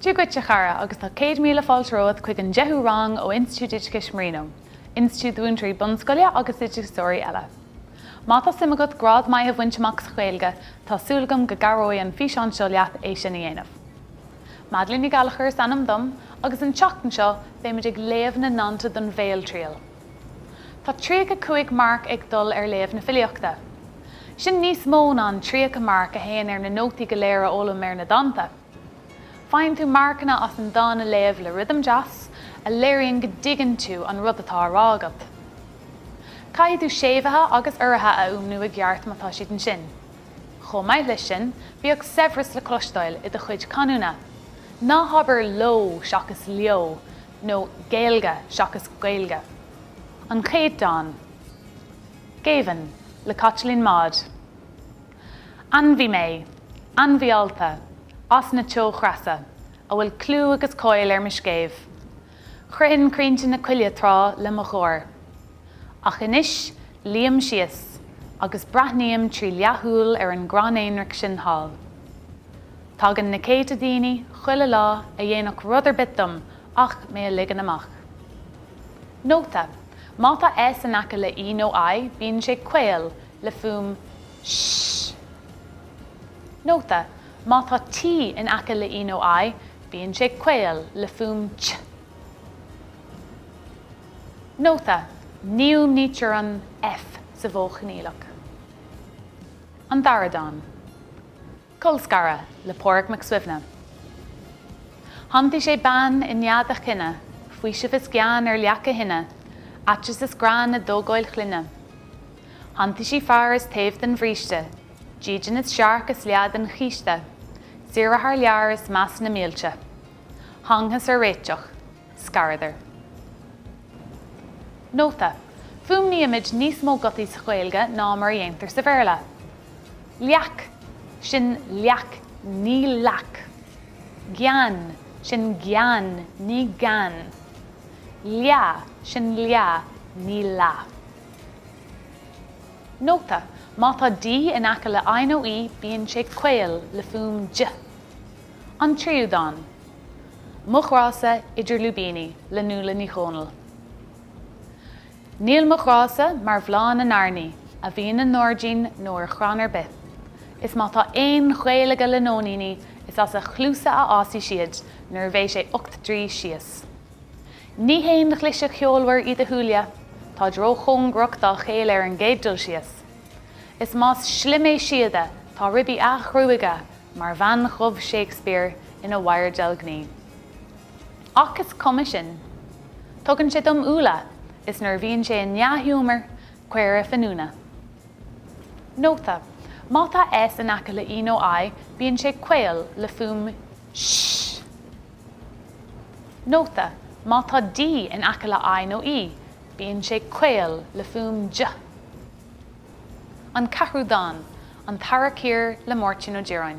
Dia dhuit, a chara, agus tá céad míle fáilte romhat chuig an deichiú rang ó Institiúid Oideachais Marino, Institiúid do Mhúinteoirí Bunscoile agus d'Oideachasóirí eile. Má tá suim agat grád maith a bhaint amach sa Ghaeilge, tá súil agam go gcabhróidh an físeán seo leat é sin a dhéanamh. Madeleine Ní Ghallachair is ainm dom, agus an tseachtain seo beimid ag léamh na ndánta don bhéaltriail. Tá 35 marc ag dul ar léamh na filíochta. Sin níos mó ná an 30 marc a théann ar na nótaí go léir a fhoghlaim ar na dánta. Faigheann tú marcanna as an dán a léamh le rithim deas, a léiríonn go dtuigeann tú an rud atá á rá agat. Caithfidh tú séimhithe agus uruithe a fhuaimniú i gceart má tá siad ansin. Chomh maith leis sin, bíodh saibhreas le cloisteáil i do chuid canúna. Ná habair 'leo' seachas 'leo', nó Gaeilge seachas Gaeilge. An Chéad Dán. Géibheann, le Caitlín Maude. Ainmhí mé, ainmhí allta, as na teochreasa, a bhfuil clú agus cáil ar mo scéimh. Chroithfinn crainnte na coille tráth le mo gháir. Ach anois, luím síos, agus breathnaím trí leathshúil ar an gcrann aonraic sin thall. Tagann na céadta daoine chuile lá a dhéanfadh rud ar bith dom ach mé a ligean amach. Nóta, Má tá S in aice le E nó I bíonn sé caol le fuaim sh. Nóta, Má tá T in aice le E nó I bíonn sé caol le fuaim ch. Nóta, Ní fhuaimnítear an F sa mhodh choinníollach. An Dara Dán. Colscaradh le Pádraig Mac Suibhne. Shantaigh sé bean i nead a chine, faoiseamh is gean ar leac a thine, aiteas is greann i dtógáil chlainne. Shantaigh sí fear is taobh den bhríste, dídean is searc is leath den chíste, saoire thar lear is meas na mílte. Thángthas ar réiteach. Scaradar. Nóta, Fuaimnímid níos mó gutaí sa Ghaeilge ná mar a dhéantar sa Bhéarla. Leac, Sin leac, ní lac. Gean, Sin gean, ní gan. Leath, Sin leath, ní lath. Nóta, Má tá D in aice le I nó E bíonn sé caol le fuaim j. An Tríú Dán. Mo Ghrá-sa, Idir Lúibíní, le Nuala Ní Dhomhnaill. Níl mo ghrá-sa mar bhláth na n-airní a bhíonn i ngairdín nó ar chrann ar bith. Is má tá aon ghaol aige le nóiníní, is as a chluasa a fhásfaidh siad nuair a bheidh sé ocht dtroigh síos. Ní haon ghlaise cheolmhar iad a shúile, táid róchóngarach dá chéile ar an gcéad dul síos. Is más slim é síoda, tá ribí a ghruaige mar bhean dhubh Shakespeare ina wire deilgní. Ach is cuma sin. Tugann sé dom úlla is nuair a bhíonn sé i ndea-ghiúmar, caora finiúna. Nóta, Má tá S in aice le E nó I bíonn sé caol, le fuaim sh. Nóta, Má tá D in aice le I nó E bíonn sé caol, le fuaim dh. An Ceathrú Dán, An tEarrach Thiar le Máirtín Ó Direáin.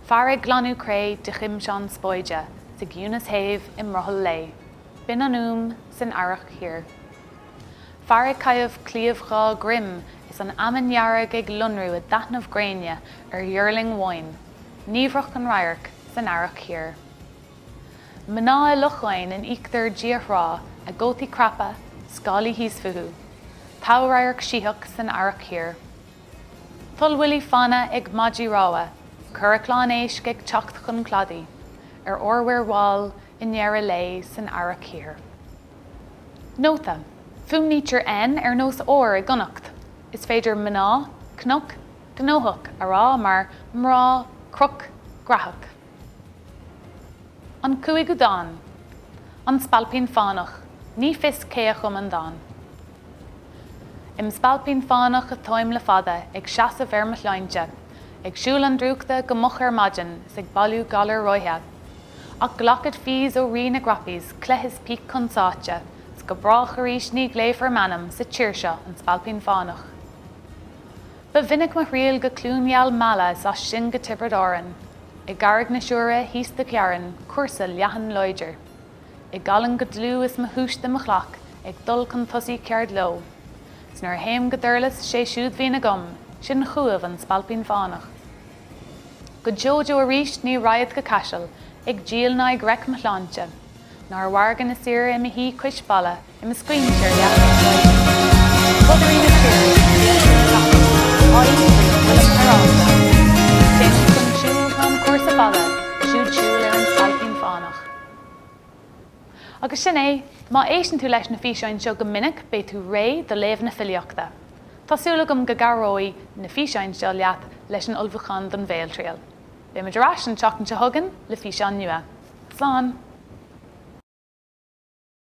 Fear ag glanadh cré de ghimseán spáide sa gciúnas shéimh i mbrothall lae. Binn an fhuaim san Earrach Thiar. Fear ag caitheamh cliabh dhá dhroim is an fheamainn dhearg ag lonrú i dtaitneamh gréine ar dhuirling bháin, niamhrach an radharc san Earrach Thiar. Mná i locháin in íochtar diaidh-thrá a gcótaí craptha, scáilí thíos fúthu, támh-radharc sítheach san Earrach Thiar. Toll-bhuillí fanna ag maidí rámha, currach lán éisc ag teacht chun cladaigh ar ór-mhuir mhall i ndeireadh lae san Earrach Thiar. Nóta, Fuaimnítear N ar nós R i gConnacht. Is féidir mná, cnoc, gnóthach a rá mar mrá, croc, graitheach. An Cúigiú Dán. An Spailpín Fánach. Ní fios cé a chum an dán. Im spailpín fánach atáim le fada, ag seasamh ar mo shláinte, ag siúl an drúchta go moch ar maidin 's ag bailiú galair ráithe. Ach glacfad fees ó Rí na gcroppies, cleith is píc chun sáite, 's go brách arís ní ghlaofar m'ainm sa tír seo, An Spailpín Fánach. Ba mhinic mo thriall go Cluain gheal Meala 's as sin go Tiobraid Árann. I gCarraig na Siúire, thíos do ghearrainn, cúrsa leathan láidir. I gCallainn go dlúth is mo shúiste im ghlac, ag dul chun tosaigh ceard leo. 'S nuair a théim go Durlas, 'sé siúd bhíonn agam, sin chúibh an Spailpín Fánach. Go deo deo arís ní raghad go Caiseal, ag díol ná ag reic mo shláinte. Ná ar mhargadh na saoire im shuí cois balla, Im scaoinse ar leataoibh sráide. Bodairí na tíre, ag tíocht ar a gcapaill á fhiafraí an bhfuilim hireálta. Téanam chun siúil, tá an cúrsa fada, siúd siúl ar an Spailpín Fánach. Agus sin é, má éisteann tú leis na físeáin seo go minic beidh tú réidh do léamh na filíochta. Tá súil agam go gcabhróidh na físeáin seo leat leis an ullmhúchán don bhéaltriail. Beimid ar ais an tseachtain seo chugainn le físeán nua. Slán!